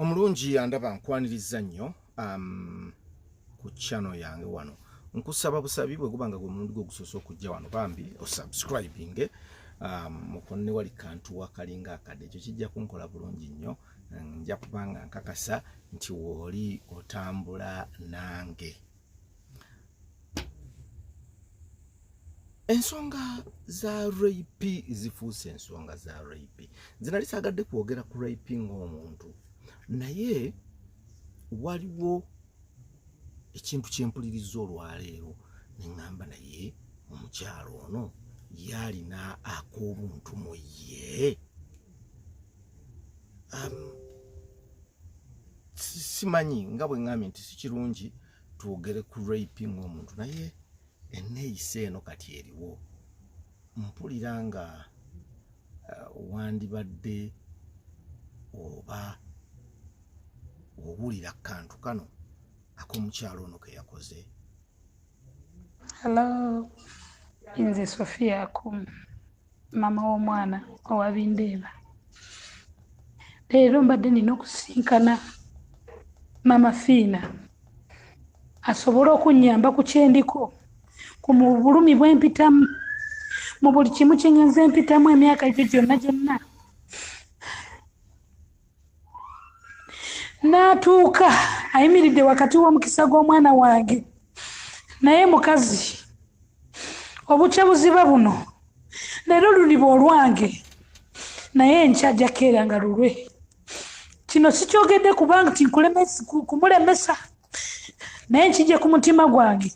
omulungi andaba nkwaniriza nnyo um, ku chano yange wano nkusaba busabi bwe guba nga gwe mulundi gwo gusoose okujja wano bambi osubscribinge um, mukonne wali kantu wakalinga akadde ekyo kijja kunkola bulungi nnyo nja kubanga nkakasa nti wooli otambula nange ensonga za rap zifuuse ensonga za rap zinali sagadde kwogera ku rap ng'omuntu naye waliwo ekintu kyempuliriza olwaleero neŋŋamba naye omukyalo ono yalina ak'obuntu mu ye um, simanyi nga bwe ŋŋambye nti si kirungi twogere ku rape ng'omuntu naye enneeyisa eno kati eriwo mpulira nga uh, wandibadde oba owulira kantu kano ak'omukyalo ono ke yakoze hallo nze sofia akumu mama w'omwana owabindeeba leero mbadde nina okusinkana mama fiina asobole okunyamba ku kyendiko ku mu bulumi bwempitamu mu buli kimu kyengenza empitamu emyaka egyo gyonna gyonna n'atuuka ayimiridde wakati w'omukisa gw'omwana wange naye mukazi obukya buziba buno leero luliba olwange naye enkya jakeera nga lulwe kino sikyogedde kubanga ti kumulemesa naye nkijje ku mutima gwange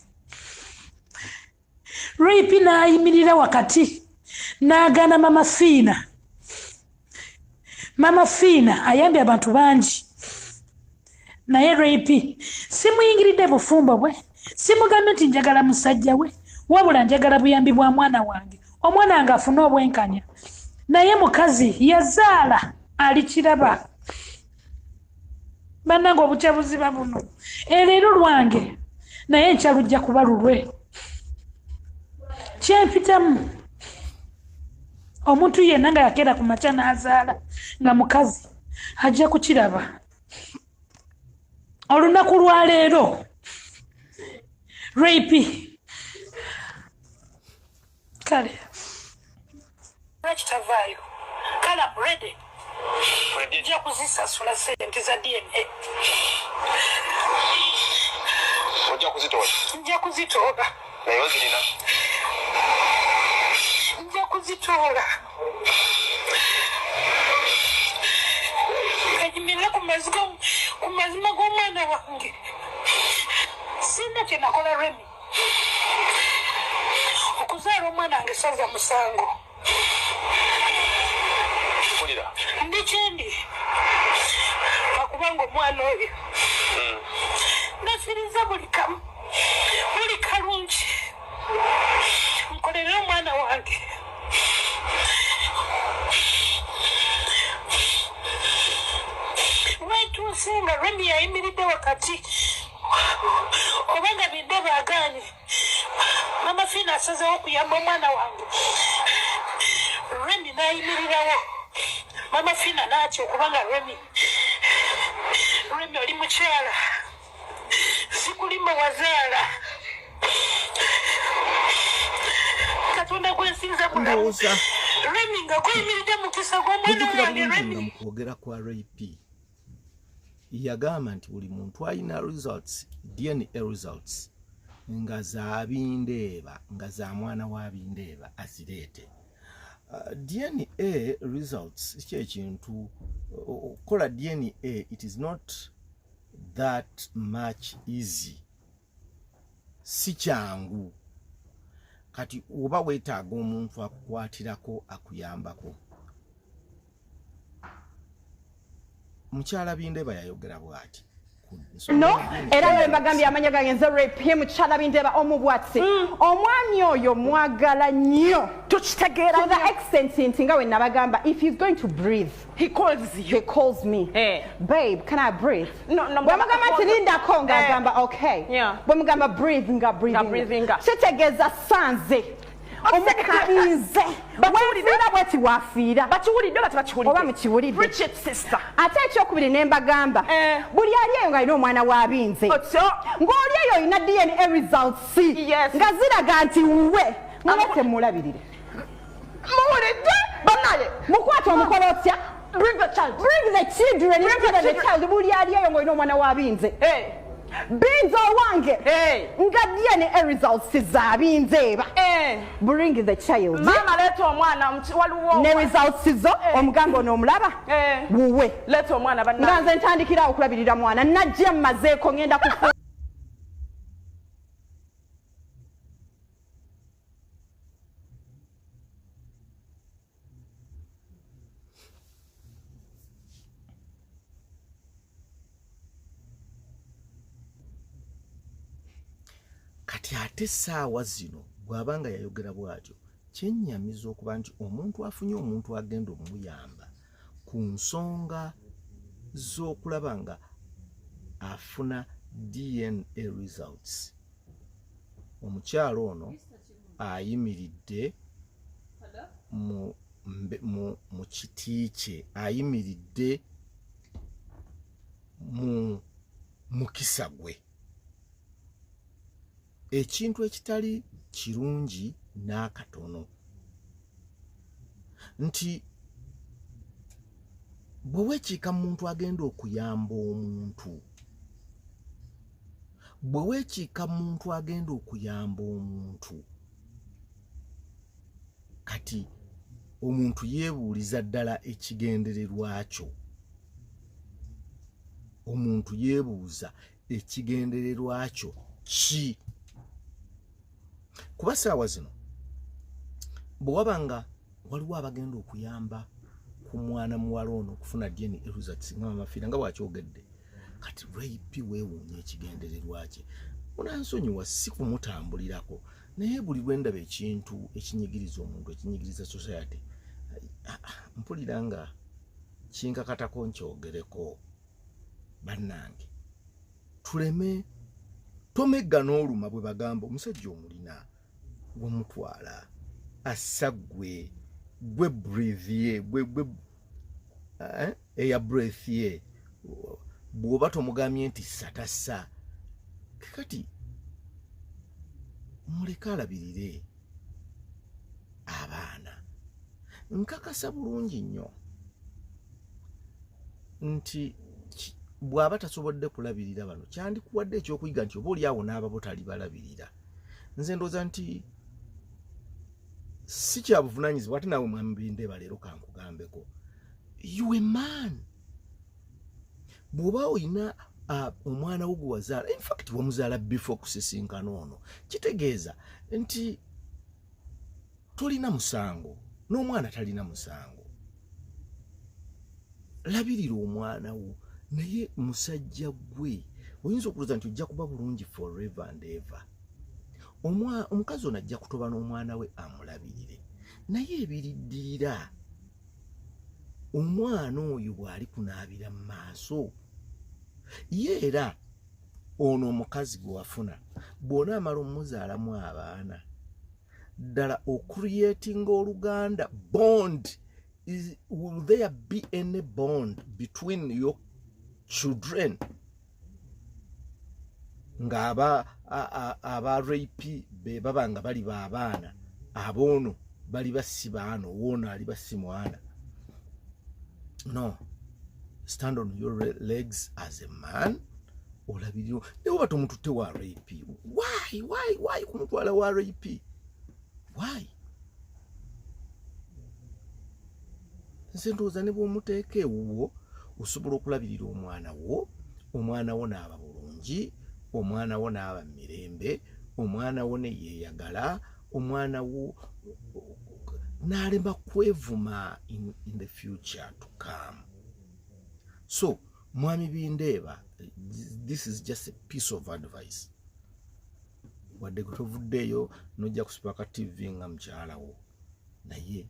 ripi n'ayimirira wakati n'agaana mama fiina mama fiina ayambye abantu bangi naye ripi simuyingiridde bufumbo bwe simugambye nti njagala musajja we wabula njagala buyambi bwa mwana wange omwana nga afune obwenkanya naye mukazi yazaala alikiraba banange obutya buziba buno eleero lwange naye enkya lujja kuba lulwe kyempitamu omuntu yenna nga yakeera ku makya n'azaala nga mukazi ajja kukiraba olunaku lwaleero rapi kale kitavaayo kale amredi ja kuzisasula sente za dna ojja kuzitoola nja kuzitoola naye ozirina nja kuzitoola kanyumire ku mazima g'omwana wange sina kyenakola remi okuzaala omwana wange saza musango ndi kyendi akubanga omwana oyo hmm. nasiriza buli kamu buli kalungi nkolerera omwana wange wetuuse nga remi yayimiridde wakati kubanga bidde bagaanye mama fiina asazewo okuyamba omwana wange remi nayimirirawo mama fiina naatya okubanga remi remi oli mukyala sikulimba wazaala katonda gwensinza bulamu remi nga guyimiridde mukisa gwomwana wange remi yagamba nti buli muntu alina results dna results nga zabindeeba nga za mwana wa bindeeba azireete uh, dna results kyekintu okukola dna it is not that much easy si kyangu kati oba weetaaga omuntu akukwatirako akuyambako mukyala bindeba yayogera bwati no era nawe mbagambye amanya gange nze repye mukyala bindeba omubwatsi mm. omwami oyo mwagala nnyo tukitegeera to the extent nti nga we nabagamba if he's going to breathe He calls you. He calls me. Hey. Eh. Babe, can I breathe? No, no. Bwamugamba nti lindako nga eh. agamba okay. Yeah. Bwamugamba breathe nga breathing. Nga breathing. Kitegeeza sanze. omukalinze wafiira bweti wafiira bakiwulidde oba tebakiwulidde oba mukiwulidde ate ekyokubiri ne mbagamba eh. buli ali eyo ng'alina omwana w'abinze ng'oli eyo olina dna results nga ziraga nti wuwe mulatemulabirire muwulidde banaye mukwata omukola otya bring the child bring the children bring the child buli ali eyo ng'olina omwana wa binze binze owange nga dna results za binze eba bring the child mama leta omwana waliwo ne results zo omuganga ono omulaba wuwe leta omwana banna nga nze ntandikira okulabirira mwana najja mmazeeko ngenda kufu kati ate saawa zino bwaba nga yayogera bwatyo kyenyamiza okuba nti omuntu afunye omuntu agenda omuyamba ku nsonga z'okulaba nga afuna dna results omukyala ono ayimiridde mu kiti kye ayimiridde mu mukisa gwe ekintu ekitali kirungi n'akatono nti bwe weekiika mu muntu agenda okuyamba omuntu bwe weekiika muntu agenda okuyamba omuntu kati omuntu yeebuuliza ddala ekigendererwa kyo omuntu yeebuuza ekigendererwa kyo ki kuba saawa zino bwe waba nga waliwo abagenda okuyamba ku mwana muwala ono okufuna dna results nga mamafiira nga bwakyogedde kati rip weewuunya ekigendererwa kye munansonyiwa si kumutambulirako naye buli lwe ndaba ekintu ekinyigiriza omuntu ekinyigiriza society ah, ah, mpulira nga kinkakatako nkyogereko bannange tuleme tomegga n'oluma bwe bagamba omusajja omulina gumutwala assa gwe gwe breath ye gwe gwe eh, eya breath ye bw'oba tomugambye nti satassa kati muleke alabirire abaana nkakasa bulungi nnyo nti bw'aba tasobodde kulabirira bano kyandikuwadde ekyokuyiga nti oba oli awo n'ababo talibalabirira nze ndoza nti si kya buvunanyizibwa ate nawe mwami bindeba leero kankugambeko you a man bw'oba olina uh, omwana wo gwe wazaala infact wamuzaala before kusisinkana ono kitegeeza nti tolina musango n'omwana talina musango labirira omwana wo naye musajja gwe oyinza okulooza nti ojja kuba bulungi forever and ever omukazi ono ajja kutoba n'omwana we amulabirire naye ebiriddirira omwana oyo bw'ali kunaabira mu maaso ye era ono omukazi gwe wafuna bw'onaamala omumuzaalamu abaana ddala ocreating oluganda bond is, will there be any bond between your children nga aba aba rape be baba nga bali ba abaana aboono bali basi baano woono ali basi mwana no stand on your legs as a man olabirira naye oba tomututte wa rap why why why kumutwala wa rap why nze ndowooza ne bwomuteeka ewuwo osobola okulabirira omwana wo omwana wo naaba bulungi omwana wo naaba mu mirembe omwana wo neyeeyagala omwana wo naalema kwevuma in, in the future to come so mwami bindeeba this is just a piece of advice wadde kutovuddeeyo nojja kusipaka tv nga mukyalawo naye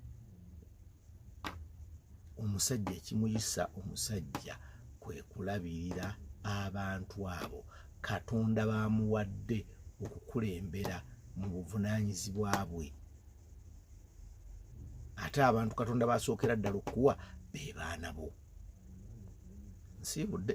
omusajja ekimuyisa omusajja kwe kulabirira abantu abo katonda bamuwadde okukulembera mu buvunanyizibwa bwe ate abantu katonda basookera ddala okukuwa be baana bo nsiibudde